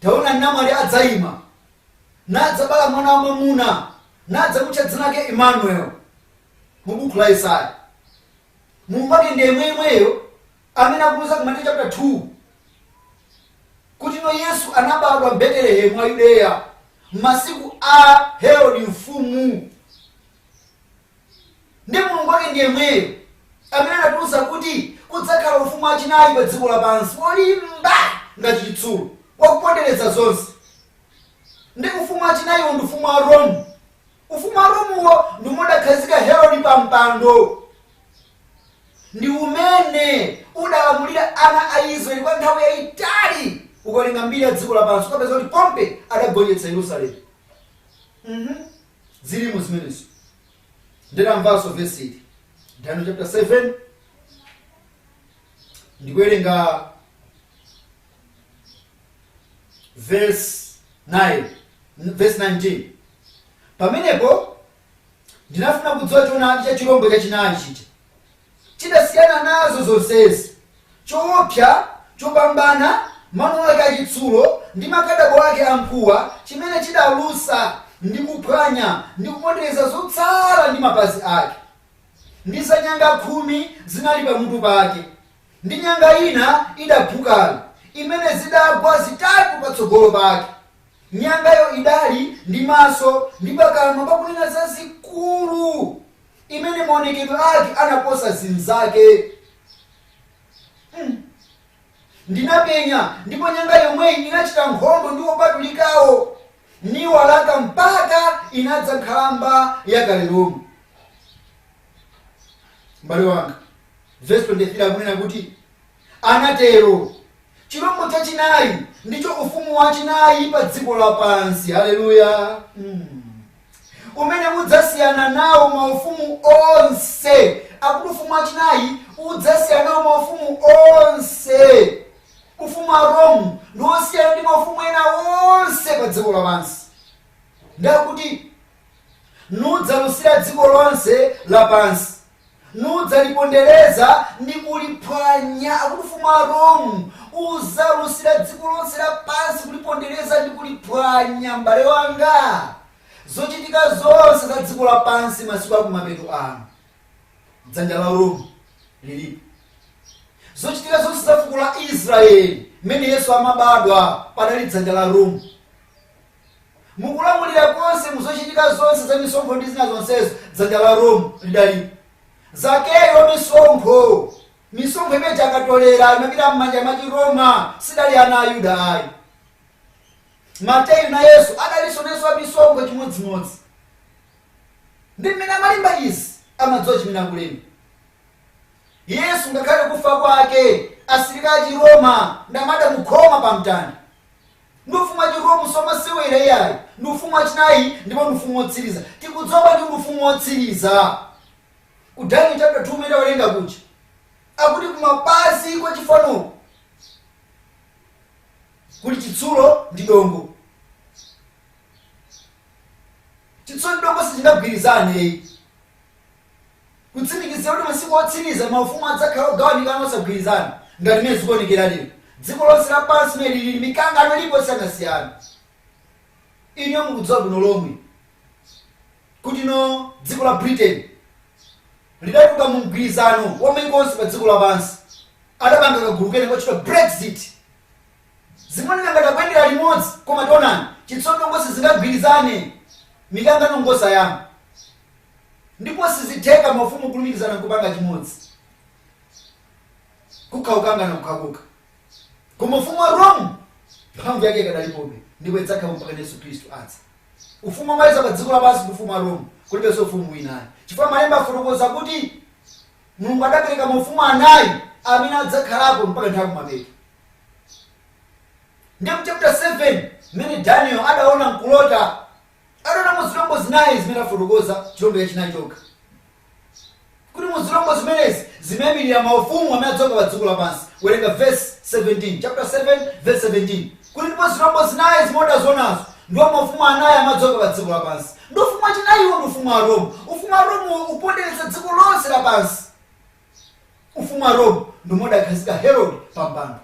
Speaker 2: taona namwali adzaima nadzabala mwana wa mwamuna nadzamutcha dzina lake Emmanuel mu buku la Yesaya. Mulungu wake ndi yemweyemweyo amene akutiuza ku Mateyu chapter 2 kuti no yesu anabadwa mbetelehemu wa yudeya m'masiku a herodi mfumu ndi mulungu wake ndi yemweyo amene adatiuza kuti kudzakhala ufumu wachinayi pa dziko lapansi wolimba ngati chitsulo wakupondereza zonse ndi ufumu wachinayiwo ndi ufumu wa rome ufumu wa romuwo ndi umene udakhazika herodi pa mpando ndi umene udalamulira ana a Israeli kwa nthawi yayitali. Ukawerenga mbiri ya dziko lapansi ukapeza kuti Pompe adagonjetsa Yerusalemu. Mhm. Zilimo zimenezo. Ndidamvanso vesi ili. Daniel chapter 7 ndikuwerenga verse 9 verse 19 pamenepo Ndinafuna kudziwa choonadi cha chirombo chachinayi chija. Chidasiyana nazo zonsezi, choopsa chopambana, mano ake achitsulo ndi makadabo ake amkuwa, chimene chidalusa ndi kuphwanya ndi kupondereza zotsala ndi mapazi ake. Ndi za nyanga khumi zinali pamutu pake, ndi nyanga ina idaphukayo, imene zidagwa zitatu patsogolo pake. Nyangayo idali ndi maso ndi pakamwa pakunena zazikulu, imene maonekedwe ake anaposa zinzake. Umm! Ndinapenya, ndipo nyanga yomweyi inachita nkhondo ndi opatulikawo, niwalaka mpaka inadza nkhalamba yakale lomwe. M'bale wanga, vesi 23 akunena kuti. anatero. Chirombo chachinai ndicho ufumu wachinai pa dziko lapansi, haleluya, umene udzasiyana nawo maufumu onse. Akuti ufumu wachinai udzasiyana nawo maufumu onse. Ufumu wa Rome ndi wosiyana ndi maufumu ena onse pa dziko lapansi, ndi akuti nudzalusira dziko lonse lapansi. nudzalipondereza ndi kuliphwanya, akuti ufumu wa Rome udzalusira dziko lonse lapansi, kulipondereza ndi kuliphwanya. M'bale wanga, zochitika zonse za dziko lapansi masiku akumapeto ano, dzanja la Rome lilipo. Zochitika zonse za fuko la Israeli, mmene Yesu amabadwa, padali dzanja la Rome. Mu kulamulira konse, mu zochitika zonse za misonkho ndi zina zonsezo, dzanja la Rome lidalipo. Zakeyu wa misonkho, misonkho imene akatolera imapita m'manja mwa Chiroma, sidali ana a Yuda ayi. Mateyu nayenso adalinso nayenso wa misonkho chimodzimodzi. Ndi mmene amalemba izi, amadziwa chimene akulemba. Yesu ngakhale kufa kwake, asilikali a Chiroma ndi amene adamukhoma pamtanda. ndi ufumu wa chiroma simasewera iyayi ndi ufumu wachinayi ndipo ndi ufumu wotsiriza tikudziwa bwanji kuti ndi ufumu wotsiriza ku daniel chapter 2 mmene tawerenga kuja akuti kumapazi kwa chifano kuli chitsulo ndi dongo chitsulo ndi dongo sichingagwirizane kutsimikizira kuti masiku otsiriza maufumu adzakhala ogawanikana osagwirizana ngati mmene zikuonekera lero dziko lonse lapansi mmene lili mikangano ilipo yosiyanasiyana inu mukudziwa bwino lomwe kuti no dziko la britain lidatuluka mu mgwirizano wa maiko onse pa dziko lapansi adapanga kagulu kena kotchedwa brexit zimoneka ngati akuyendera limodzi komatu onani chitsulo dongo sizingagwirizane mikangano ngosayamba ndipo sizitheka mafumu kulumikizana nkupanga chimodzi. Kukhala kukangana kokhakokha. Koma ufumu wa Rome mphamvu yake ikadalipobe ndipo idzakhalapo mpakana Yesu Khristu adza. Ufumu womaliza pa dziko lapansi ndi ufumu wa Rome, kulibenso ufumu wina ayi. Chifukwa malemba afotokoza kuti Mulungu adapereka maufumu anayi amene adzakhalapo mpaka nthawi yakumapeto. Ndiye mu chapter 7 mmene Daniel adaona nkulota Adaona mu zilombo zinayi zimene afotokoza, chilombo chachinayi chokha, kuti mu zilombo zimenezi zimaimilira maufumu amene adzauka pa dziko lapansi. Werenga vesi 17, chaputala 7 vesi 17, kuti ndipo zilombo zinayi zimene adazionazo ndiwo maufumu anayi amene adzauka pa dziko lapansi. Ndi ufumu wachinayiwo ndi ufumu wa Rome. Ufumu wa Rome ukupondereza dziko lonse lapansi. Ufumu wa Rome ndi umene udakhazika Herode pa mpando.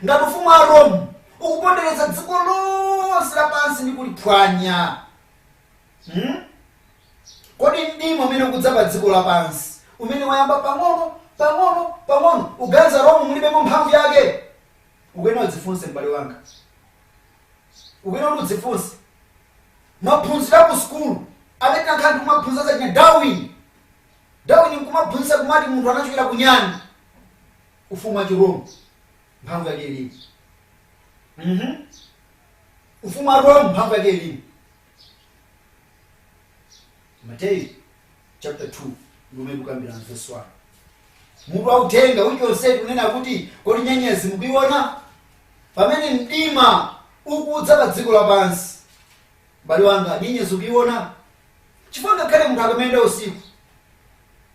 Speaker 2: ngati ufumu wa rome ukupondereza dziko lonse lapansi ndi kuliphwanya hmm? kodi mdima umene ukudza pa dziko lapansi umene wayamba pang'ono pang'ono pang'ono uganza rome mulibemo mphamvu yake ukuyena udzifunse m'bale wanga ukuyena kuti udzifunse maphunziro aku sukulu amene ankhala ndikumaphunzira za che darwin Darwin nkumaphunzitsa kumati munthu anachokera ku nyani, ufumu wa chi Rome mphamvu yake ilimo. mmh ufumu wa Rome mphamvu yake ilimo. Mateyu chapter 2 ndi umene tikukambirana verse 1. Mutu wa uthenga wiki yonseyi tikunena kuti kodi nyenyezi mukuiona? Pamene mdima ukudza pa dziko lapansi. M'bale wanga, nyenyezi ukuiona? Chifukwa ngakhale munthu akamayenda usiku,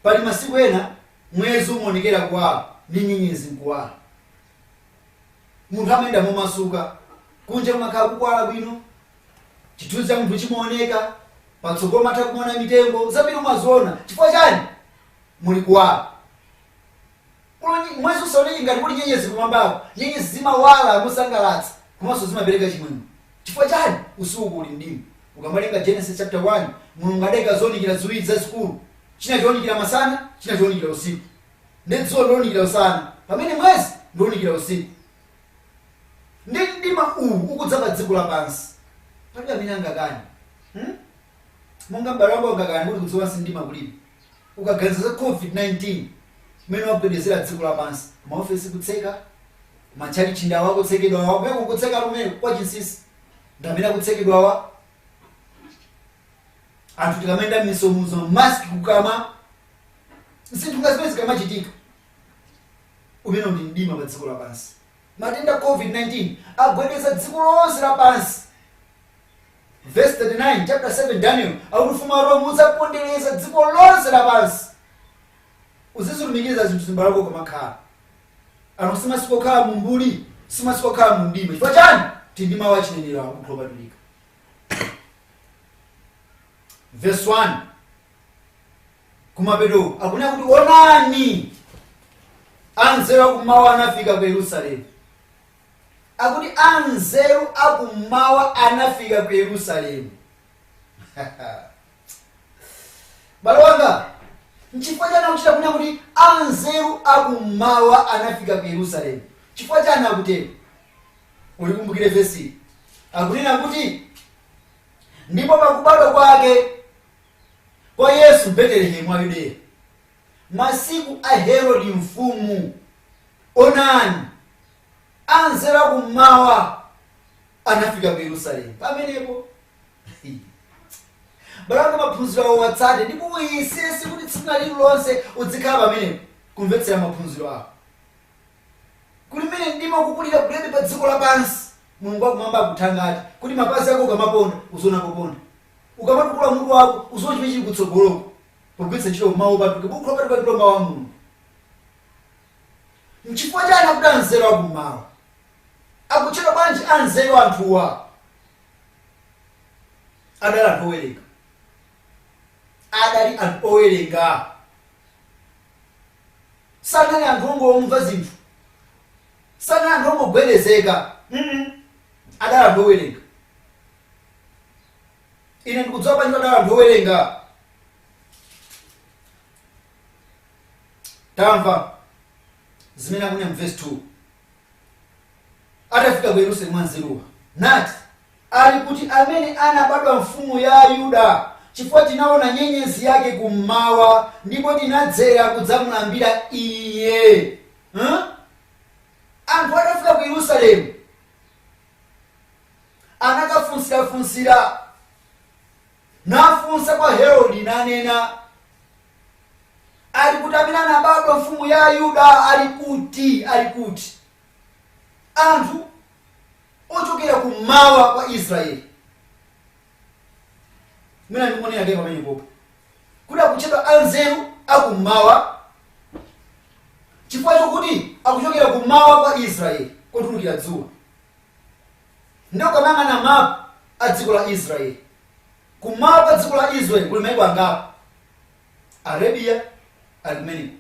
Speaker 2: pali masiku ena mwezi umaonekera kuwala ndi nyenyezi n'kuwala. Munthu amayenda momasuka, kunja kumakhala kukuwala bwino, chithunzi cha munthu chimaoneka, patsogolo umatha kumaona mitengo, zambiri umaziona. Chifukwa chani? Muli kuwala. Koma mwezi usaoneke ngati kuli nyenyezi kumwambaku. Nyenyezi zimawala mosangalatsa komanso zimapereka chimwemwe. Chifukwa chani? Usiku kuli mdima. Ukawerenga Genesis chapter 1, Mulungu adaika zounikira ziwiri zazikulu. China chounikira masana, china chounikira usiku. Ndiye dzuwa ndilounikira usana pamene mwezi ndiounikira usiku. Ndiye mdima uwu ukudza pa dziko lapansi, palibe amene angakane. Hmm? Monga m'bale wanga ungakane kuti kudziko lapansi mdima kulibe? ukaganiza za covid 19 mmene wagwedezera dziko lapansi ma ofesi kutseka, ma tchalitchi ndi awa akutsekedwa awa kumeneko nkutsekatu kumeneko kwa chinsisi ndi amene akutsekedwawa anthu tikamayenda mmisonkhano mask kukamwa zinthu ngati zimenezi zikamachitika umenewo ndi mdima pa dziko lapansi matenda covid 19 agwedeza dziko lonse lapansi Vesi 39, chapter 7, Daniel, akuti ufumu wa Rome udzapondereza dziko lonse lapansi. Uzizilumikiza zinthu zimbali zako ukamakhala. Ano si masiku okhala mu mbuli, si masiku okhala mu mdima. Chifukwa chani? Tili ndi mawu a chinenero a Buku Lopatulika. Verse 1. Kumapeto uku, akunena kuti onani anzeru akummawa anafika ku Yerusalemu. akuti anzeru akummawa anafika ku yerusalemu bale wanga nchifukwa chani akuchita kunena kuti anzeru akummawa anafika ku yerusalemu chifukwa chani akutero ulikumbukire vesi akunena kuti ndipo pakubadwa kwake kwa yesu mbetelehemu wa yudeya masiku a Herode mfumu. Onani, anzeru a kum'mawa anafika ku Yerusalemu pamenepo. Bale wanga maphunziro awo watsate ndipo uyesese kuti tsiku lina lililonse udzikhala pamenepo kumvetsera maphunziro ako. Kuti mmene mdima ukukulirakulirabe pa dziko lapansi, Mulungu wakumwamba akuthangate kuti mapazi ako ukamaponda uziona poponda, ukamatukula mutu wako uziona chimene chili kutsogoloko. pogwiritsa ntchito Mawu Opatulika, Bukhu Lopatuka ndilo Mawu a Mulungu. Nchifukwa chani akuti anzeru akummawa? Akutchedwa bwanji anzeru anthuwa? Adali anthu owerenga. Adali anthu owerenga. Sanali anthu ongomva zinthu. Sanali anthu ongogwedezeka. mm Adali anthu owerenga. ine ndikudziwa bwanji kuti adali anthu owerenga tamva zimene akunena mu verse 2 atafika ku yerusalemu anzeruwa nati ali kuti amene anabadwa mfumu ya ayuda chifukwa tinaona nyenyezi yake kummawa ndipo tinadzera kudzamulambira iye huh? anthu atafika ku yerusalemu anakafunsirafunsira, nafunsa kwa Herodi, nanena, Ali kuti amene anabadwa mfumu ya Ayuda? Ali kuti? Ali kuti? Anthu ochokera kummawa kwa Israeli mwina ndikuonera ndiye pamene popo kuti akutchedwa anzeru akummawa chifukwa chokuti akuchokera kummawa kwa israeli kotulukira dzuwa ndiye ukamayang'ana mapu a dziko la israeli kummawa kwa dziko la israeli kuli maiko angapo arabia ali kumeneko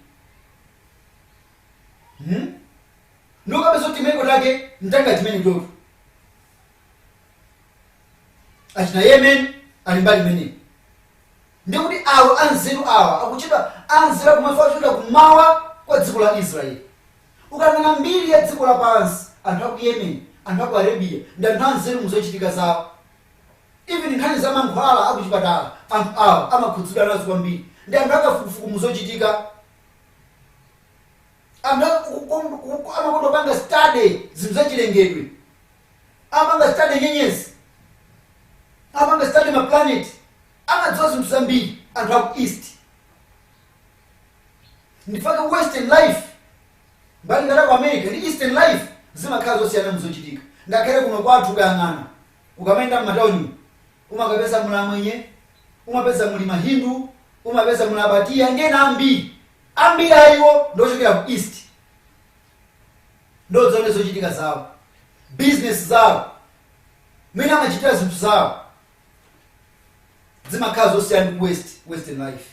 Speaker 2: hmm? ndiye ukapeza kuti maiko take mtanga chimene chotu achina yemen ali mbali imeneyo ndikuti awo anzeru awa akutchedwa anzeru akummawa kuchokera kumawa kwa dziko la israeli ukanena mbiri ya dziko lapansi anthu aku yemen anthu aku arabia ndi anthu anzeru muzochitika zawo even nkhani za mankhwala akuchipatala anthu awa amakhudzidwa nazo kwambiri ndi anthu akafukufuku muzochitika anthu aku- ku- ku- ku- amakonda kupanga study zinthu zachilengedwe amapanga study nyenyezi, amapanga study ma planet, amadziwa zinthu zambiri anthu aku east. Ndifa ka western life mbali ngati ku America ndi eastern life zimakhala zosiyana muzochitika. Ngakhale kuno kwathu ukayang'ana ukamayenda m'matauni umakapeza muli amwenye, umapeza muli mahindu, umapeza muli abatiya ndi ena ambiri. Ambiri a iwo ndi ochokera ku east. nde udzaone zochitika zawo, business zawo, mmene amachitira zinthu zawo zimakhala zosiyana ndi ku west western life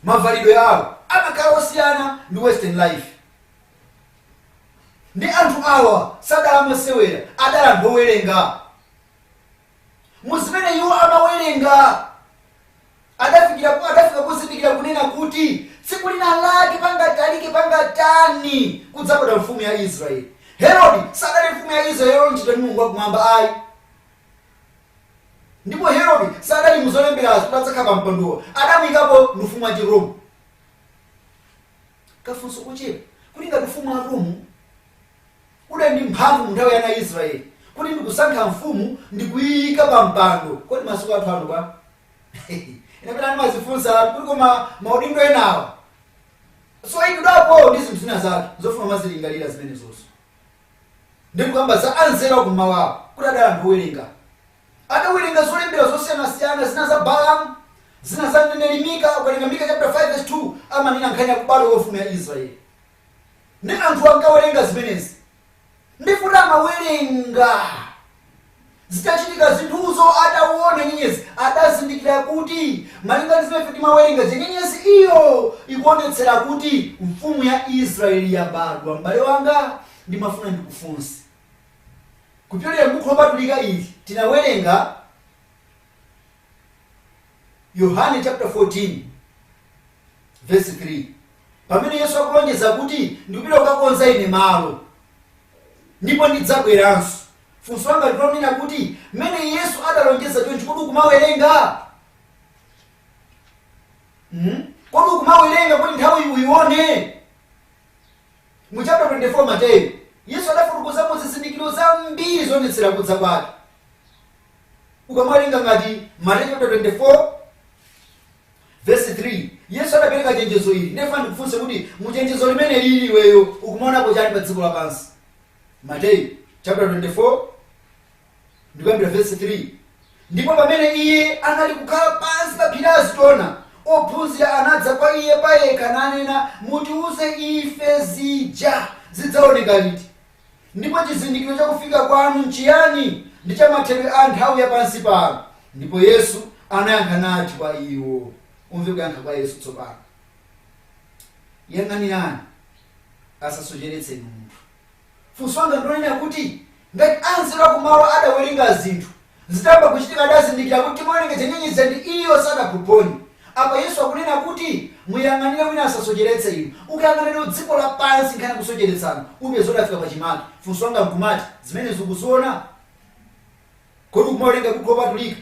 Speaker 2: mavalidwe awo amakhala osiyana ndi western life ndi anthu awa sadali amasewera adali anthu owerenga mu zimene iwo amawerenga adafikira adafika kuzindikira kunena kuti tsiku lina lake pangatalike pangatani kudzabadwa mfumu ya israeli herodi sadali mfumu ya israeli yolonjidwa ndi mulungu wakumwamba ayi ndipo herodi sadali muzolemberazo kuti adzakhala pa mpandowo adamuyikapo ndi ufumu wa chiromu kafunso kochepa kuti ngati ufumu wa romu Udali ndi mphamvu mu nthawi ya ana a Israele, kuti ndi kusankha mfumu ndi kuiika pa mpando. Kodi masiku athu ano bwa? Ena pena ndimazifunsa kuti koma maudindo enawa soikidwapo ndi zinthu zina zake zofuna umazilingalira zimenezozo. Ndi kukamba za anzeru a kummawawo kuti adali anthu owerenga. Adawerenga zolembera zosiyanasiyana, zina za Balamu, zina za mneneri Mika. Ukawerenga Mika chaputala 5 vesi 2 amanena nkhani ya kubadwa kwa mfumu ya Israele. Nde anthu ankawerenga zimenezi nde poti amawerenga zitachitika zinthuzo adawona nyenyezi adazindikira kuti malinga ndi zimene ife timawerenga zija nyenyezi iyo ikuonetsera kuti mfumu ya Israeli yabadwa. M'bale wanga ndimafuna ndikufunse kupyolera m'buku lopatulika ili tinawerenga Yohane chapter 14 vesi 3 pamene yesu akulonjeza kuti ndikupita kukakonza ine malo ndipo ndidzabweranso funso langa ndilonena kuti mmene yesu adalonjeza chonchi kodi ukumawerenga mm? kodi ukumawerenga kuti nthawi uyione mu chapter 24 mateyu yesu adafotokozamo zizindikiro zambiri zoonetsera kudza kwake ukamawerenga ngati mateyu chapter 24 Vesi 3, Yesu adapereka chenjezo ili, nde ndifuna ndikufunse kuti mu chenjezo limenelili iweyo ukumaonapo chani pa dziko lapansi? Mateyu chaputala 24 ndikuyambira vesi 3, Ndipo pamene Iye anali kukhala pansi pa phiri la Azitona, ophunzira anadza kwa Iye payekha nanena, Mutiuze ife zija zidzaoneka liti? Ndipo chizindikiro cha kufika kwanu nchiyani, ndi cha mathedwe a nthawi ya pansi pano? Ndipo Yesu anayankha nati kwa iwo. Umve kuyankha kwa Yesu tsopano. Yang'anirani, asasocheretse inu munthu. Funso langa ndilonena kuti, ngati anzeru akumawa adawerenga zinthu, Zitayamba kuchitika adazindikira kuti timawerenga nyenyezi zija ndi iyi sadaphuphonye. Apa Yesu akunena kuti muyang'anire wina asasocheretse inu. Ukayang'ana lero dziko lapansi nkhani ya kusocheretsana upeza kuti yafika pachimake. Funso langa nkumati, zimenezi ukuziona? Kodi ukumawerenga Buku Lopatulika?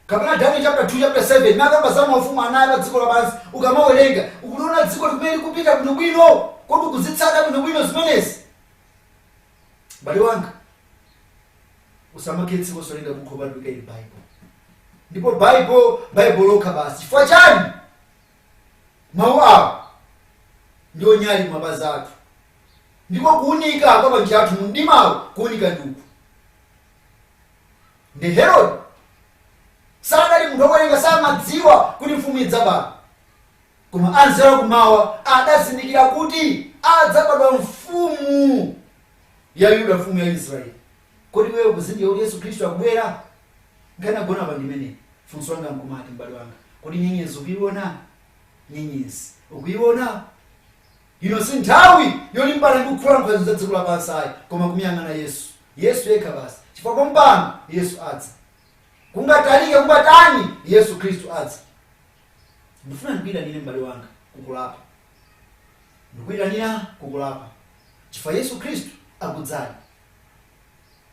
Speaker 2: Kapena Daniel chapter 2 chapter 7 imene akamba za maufumu anayi pa dziko lapansi ukamawerenga ukuliona dzikoli kumene likupita bwinobwino? Kodi ukuzitsata bwinobwino zimenezi? M'bale wanga, usamakhale osawerenga bukhu lopatulika ili Baibulo. Ndipo Baibulo, Baibulo lokha basi. Chifukwa chani? Mawu awo ndiwo nyali ya mapazi athu. Ndipo kuunika kwa panjira pathu mu mdimawo kuunika ndi uku. Nde Herod sanali munthu wowerenga samadziwa kuti mfumu idzabadwa. Koma anzeru a kum'mawa adazindikira kuti adzabadwa mfumu ya Ayuda, mfumu ya Israeli. Kodi iweyo ukuzindikira kuti Yesu Khristu akubwera? Nkhani yagona apa ndi imeneyi. Funso langa nkumati, m'bale wanga, kodi nyenyezi ukuiona? Nyenyezi ukuiona? Ino si nthawi yolimbana ndi kukhulana ndi zinthu za dziko lapansi ayi, koma kumuyang'ana Yesu. Yesu yekha basi. Chifukwa pompano Yesu adza. Kungatalike kungatani, Yesu Khristu adza. ndifuna ndikuyitanire m'bale wanga kukulapa ndikuyitanira kukulapa chifukwa yesu khristu akudzayi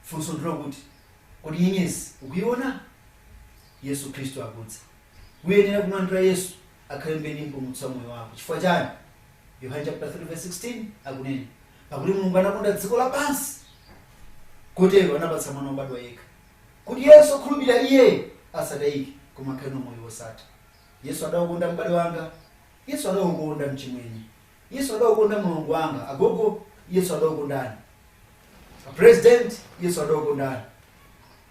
Speaker 2: funso ndilo kuti kodi nyenyezi ukuyiona yesu khristu akudza uyenera kumlandira yesu akhale mbuye ndi mpulumutsi wa moyo wako chifukwa chani yohane chapter 3 verse 16 akunena pakuti mulungu anakonda dziko lapansi kotero anapatsa mwana wobadwa yekha kuti yense okhulupirira Iye asatayike, koma akhale nawo moyo wosatha. Yesu adakukonda m'bale wanga. Yesu adakukonda mchimwene. Yesu adakukonda mlongo wanga. Agogo, Yesu adakukondani. A President, Yesu adakukondani.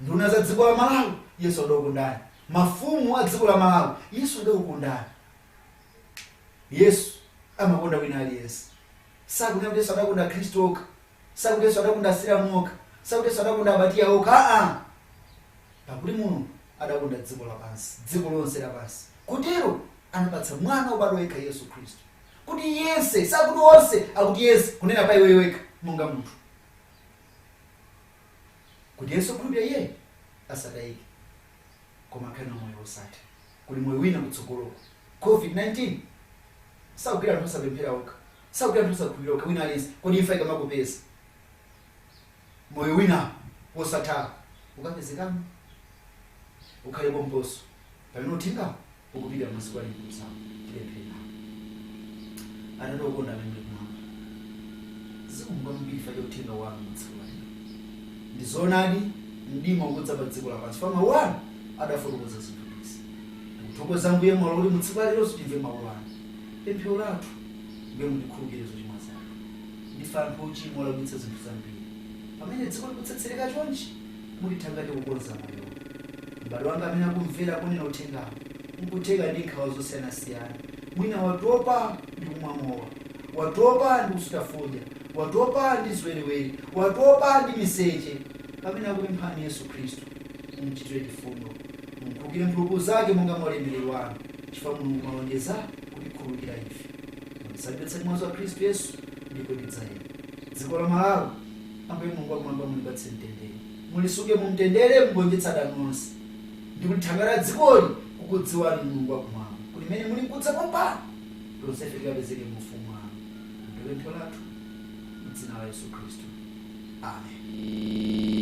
Speaker 2: Nduna za dziko la Malawi, Yesu adakukondani. Mafumu a dziko la Malawi, Yesu adakukondani. Yesu amakonda wina aliyense. Sakuti Yesu adakonda Akhristu okha. sakuti yesu adakonda asilamu okha sakuti yesu adakonda abatiya okha aa pakuti mulungu adakonda dziko lapansi dziko lonse lapansi kotero anapatsa mwana wobadwa yekha yesu khristu kuti yense sakuti onse akuti yense kunena pa iweyo wekha monga munthu kuti yense wokhulupirira iye asatayike koma akhale nawo moyo wosatha kuli moyo wina kutsogoloko covid-19 sakugwira anthu osapemphera okha sakugwira anthu osakhulupirira okha wina aliyense kodi imfa ikamakupeza moyo wina wosatha ukapezekamo ukhale pomposo pamene uthengawo Ukupita masiku alinkudzawo, tipemphere. Atate okonda amene muli kumwamba, zikomo kwambiri chifukwa cha uthenga wanu mu tsiku la lero. Ndi zoonadi mdima ukudza pa dziko lapansi chifukwa mawu anu adafotokoza zinthu izi. Tikuthokoza Ambuye mwalola kuti mu tsiku la leronso timve mawu anu. Pemphero lathu Ambuye mutikhululukire zochimwa zathu. Ndife anthu ochimwa olakwitsa zinthu zambiri. Pamene dziko likutsetsereka chonchi, mutithangate kukonza moyowu. M'bale wanga amene akumvera kunena uthengawu n'kutheka ndi nkhawa zosiyanasiyana. Mwina watopa ndi kumwa mowa, watopa ndi kusuta fodya, watopa ndi ziwerewere, watopa ndi miseche. Pamene akupemphani Yesu Khristu, mumchitire chifundo. Mumkhululukire mphulupulu zake monga mwa ulemerero wanu, chifukwa Mulungu mwalonjeza kutikhululukira ife. Mumsambitse ndi mwazi wa Khristu Yesu, ndipo tidzayera. Dziko la Malawi Ambuye Mulungu wakumwamba, mulipatse mtendere, mulisunge mumtendere, mugonjetse adani onse, ndi kulithangatira dzikoli kukudziwani Inu, Mulungu wakumwamba, kuti mmene mulinkudza pompano, tonsefe tikapezeke mu ufumu wanu. Ndi pemphero lathu mu dzina la Yesu Khristu, amen.